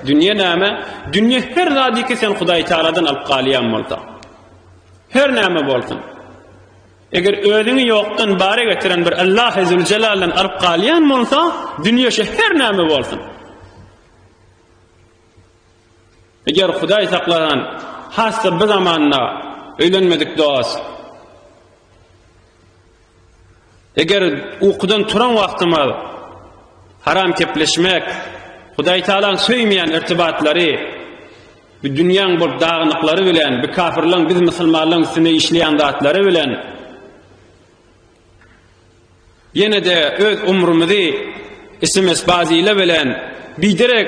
Dünýe näme? Dünýe her zadyky sen Hudaýtagaladan alyp galýan bolsaň. Her näme bolsun. Eger özüňi ýokdan bara getiren bir Allahy Züljelaldan alyp galýan bolsa, dünýe şu her näme bolsun. Eger Hudaý saklanan, hassa bu zamanda öýlenmedik dost. Eger ukudan turan wagtymyz haram kepleşmek, Hudaý Tagalaň söýmeýän irtibatlary, bu dünýäň bolup dagnyklary bilen, bu kafirleň biz musulmanlaryň üstüne işleýän zatlary bilen ýene-de öz umrumyzy ism-esbazile bilen biderek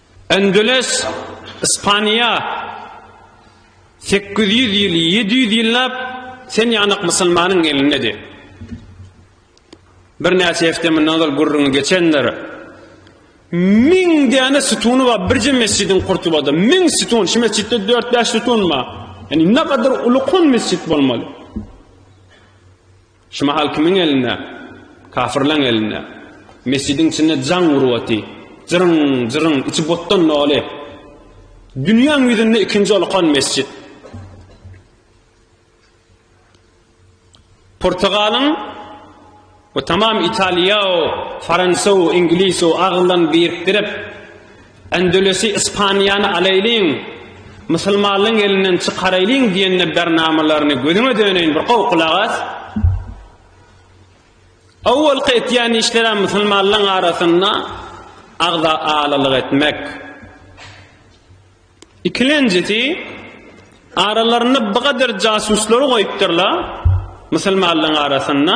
Endeles, Ispaniýa, sekiz ýüz ýyl, ýedi ýüz ýyllap sen ýanak musulmanyň elindedi. Bir näçe hepde mundan ozal gürrüňi geçendir. Müň däne sütuny bar birje mesjidiň Kurtubada. Müň sütun, şu mesjitde 4-5 sütun bar. Yani ne kadar ulukun mesjit bolmaly. Şu mahal kimiň elinde? Kafyrlaň elinde. Mesjidiň içinde jaň urup oty. Jyryn, jyryn, içi botdan doly. Dünýäň ýüzünde ikinji olkan mesjit. Portugalyň we tamam Italiýa, Fransa, Ingliz aglan birikdirip, Andalüsi, Ispaniýany alaýlyň, musulmanlaryň elinden çykaraýlyň diýen nebernamalaryny gözüňe döneýin bir gowy gulak as. Awalky etýän işlerem musulmanlaryň arasynda agza alalyk etmek. Ikilenjisi, aralarynda bu gadyr jasuslary goýupdyrlar musulmanlaryň arasynda.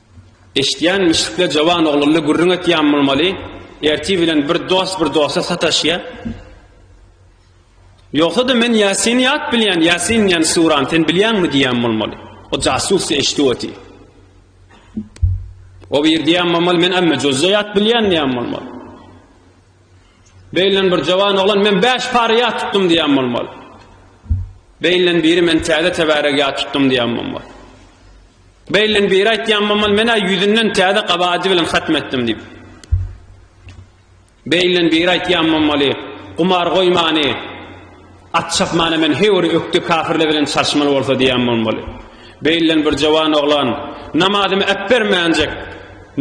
Eşidýän mişikle jowan oglanla gürrüň etýän bolmaly, ertir bilen bir dost bir dosta sataşýa. Ýogsa-da men Ýasini ýat bilýän, Ýasin diýen surany sen bilýäňmi diýýän bolmaly. O jasusy eşidip otyr. O bir diýýän bolmaly, men amma jozza ýat bilýän diýýän bolmaly. Beýlen bir jowan oglan men 5 pary ýat tutdum diýýän bolmaly. Beýlen biri men täze tebarek ýat tutdum diýýän bolmaly. Beýlen biri aýtýan bolmaly, men-ä ýüzünden täze gabady bilen hatm etdim diýip. Beýlen biri aýtýan bolmaly, gumar goýmany, at çapmany men heý bir ökde kafirler bilen çalşmaly bolsa diýen bolmaly. Beýlen bir jawan oglan, namazymy äpbermänjek,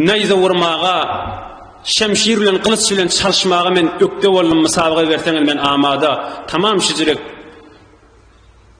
näýze urmaga, şemşir bilen, gylyç bilen çalşmaga men ökde boldum, mysabaga berseňiz men amada, tamam şijirek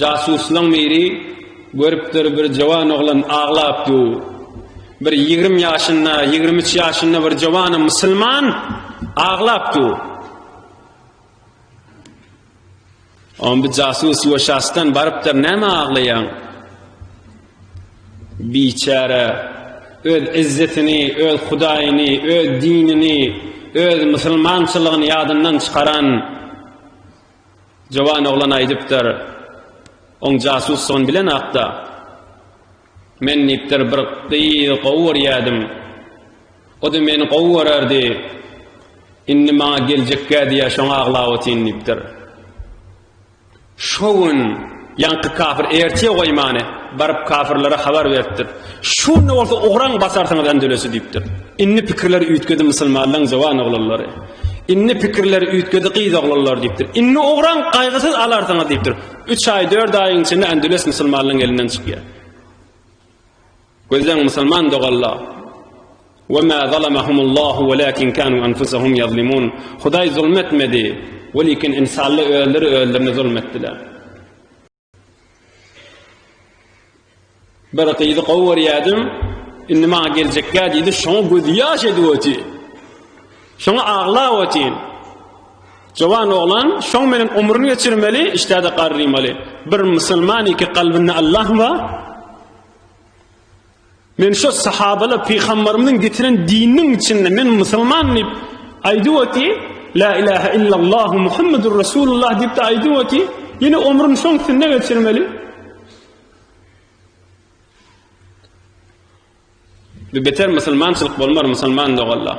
Jasuslaň biri görüpdir bir jowan oglan aglap dur. Bir ýigrim ýaşynda, ýigrim üç ýaşynda bir jowanam musulman aglap dur. On bir jasus we şasdan barypdyr näme aglaýaň? Biçäre öz izzetini, öz hudaýyny, öz dinini, öz musulmançylygyny ýadyndan çykaran Jowan oglan aýdypdyr, oň jasusdygyny bilenakda, Men diýipdir, bir gyzy gowy görýädim. O-da meni gowy görerdi. Indi maňa geljekgä diýýär, şoňa aglap otyryn diýipdir. Şo gün. Ýaňky kafir ertire goýmany, baryp kafirlere habar beripdir. Şunda bolsa ugran basarsyňyz Andülüsi diýipdir. Indi pikirleri üýtgedi musulmanlaryň jowan oglanlary. Indi pikirleri üýtgedi gyz oglanlar diýipdir. Indi ugran gaýgysyz alarsyňyz diýipdir. Üç aý, dört aýyň içinde Andülüs musulmanlaryň elinden çykýar. Gözleň musulman dogalla Ve ma zalamahumullahu velakin kanu anfusahum yazlimun Hudaý zulm etmedi velikin insalla özleri özlerine zulm etdiler. Bir gyzy gowy görýädim, indi maňa geljekkä diýdi, şoňa gözýaş edip oty. Şoňa aglaba otyň. Jowan oglan şoň menen omrun geçirmeli, işdäde garrymali. Bir musulman iki kalbynda Allah ba. Men şo sahabala peygamberimiziň getiren dininiň içinde men musulman dip aydi oty, la ilaha illallah Muhammedur Resulullah dip de aydi oty, yine omrun şoň sünne geçirmeli. Bir beter musulmançylyk bolmar musulman da Allah.